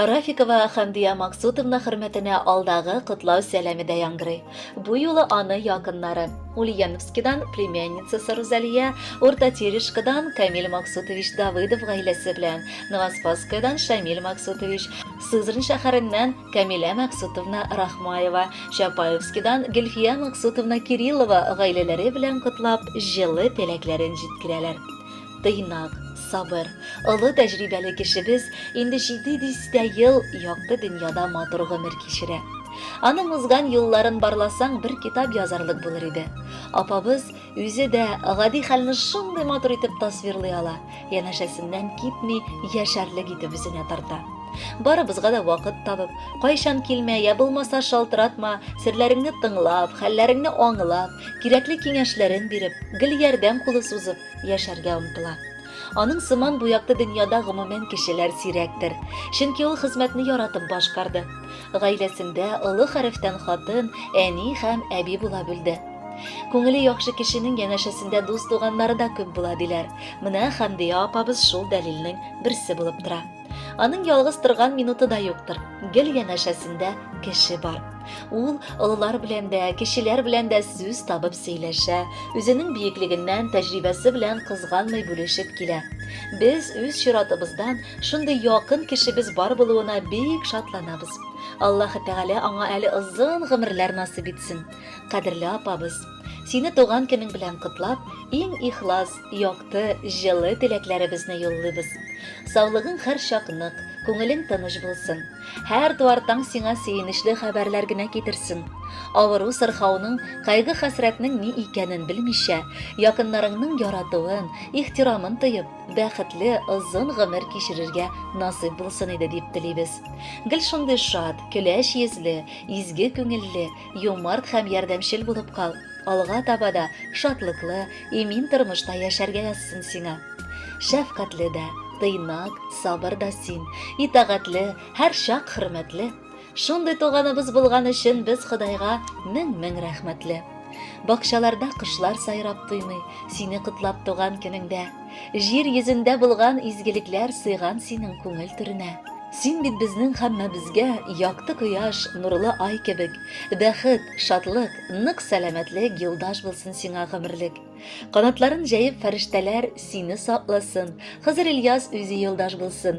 Рафикова Хәмдия Максутовна хөрмәтенә алдагы котлау сәламе дә яңгырый. Бу юлы аны якыннары Ульяновскидан племянницасы Рузалия, Урта Терешкадан Камил Максутович Давыдов гаиләсе белән, Новоспасскаядан Шамил Максутович, Сызрань шәһәреннән Камилә Максутовна Рахмаева, Чапаевскидан Гөлфия Максутовна Кириллова гаиләләре белән котлап, җылы теләкләрен җиткерәләр. Тыйнак, сабыр, олы тәҗрибәле кешебез инде җиде дистә ел якты дөньяда матур гомер кичерә. Аның узган юлларын барласаң, бер китап язарлык булыр иде. Апабыз Үзе дә гади хәлне шундый матур итеп тасвирлый ала, янәшәсеннән китми, яшәрлек итеп үзенә тарта. Барыбызга да вакыт табып, кайчан килмә, я булмаса шалтыратма, серләреңне тыңлап, хәлләреңне аңлап, кирәкле киңәшләрен биреп, гел ярдәм кулы сузып яшәргә омтыла. Аның сыман бу якты дөньяда гомумән кешеләр сирәктер. Чөнки ул хезмәтне яратып башкарды. Гаиләсендә олы хәрефтән хатын, әни һәм әби була белде. Күңеле яхшы кешенең янәшәсендә дус-туганнары да күп була, диләр. Менә Хәмдия апабыз шул дәлилнең берсе булып тора. Аның ялгыз торган минуты да юктыр. Гел янәшәсендә кеше бар. Ул олылар белән дә, кешеләр белән дә сүз табып сөйләшә, үзенең биеклегеннән, тәҗрибәсе белән кызганмый бүлешеп килә. Без үз чиратыбыздан шундый якын кешебез бар булуына бик шатланабыз. Аллаһы Тәгалә аңа әле озын гомерләр насыйп итсен. Кадерле апабыз, сине туган көнең белән котлап, иң ихлас, якты, җылы теләкләребезне юллыйбыз. Саулыгың һәр чак нык, күңелең тыныч булсын. Һәр туар таң сиңа сөенечле хәбәрләр генә китерсен. Авыру сырхауның, кайгы хәсрәтнең ни икәнен белмичә, якыннарыңның яратуын, ихтирамын тоеп, бәхетле, озын гомер кичерергә насыйп булсын иде дип телибез. Гел шундый шат, көләч йөзле, изге күңелле, юмарт һәм ярдәмчел булып кал. Алга таба да шатлыклы, имин тормышта яшәргә язсын сиңа. Шәфкатьле дә, тыйнак, сабыр да син, итагатьле, һәр чак хөрмәтле. Шундый туганыбыз булган өчен без Ходайга мең-мең рәхмәтле. Бакчаларда кошлар сайрап туймый, сине котлап туган көнеңдә. Җир йөзендә булган изгелекләр сыйган синең күңел түренә. Син бит безнең һәммәбезгә якты кояш, нурлы ай кебек. Бәхет, шатлык, нык сәламәтлек юлдаш булсын сиңа гомерлек. Канатларын җәеп фәрештәләр сине сакласын, Хызыр Ильяс үзе юлдаш булсын,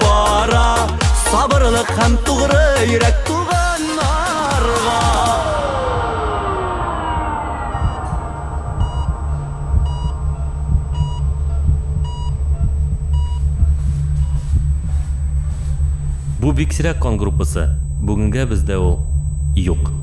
Бара сабырлык һәм тугры йөрәк туганнарга. Бу биксрәк кан группасы, бүгенгә бездә ул юк.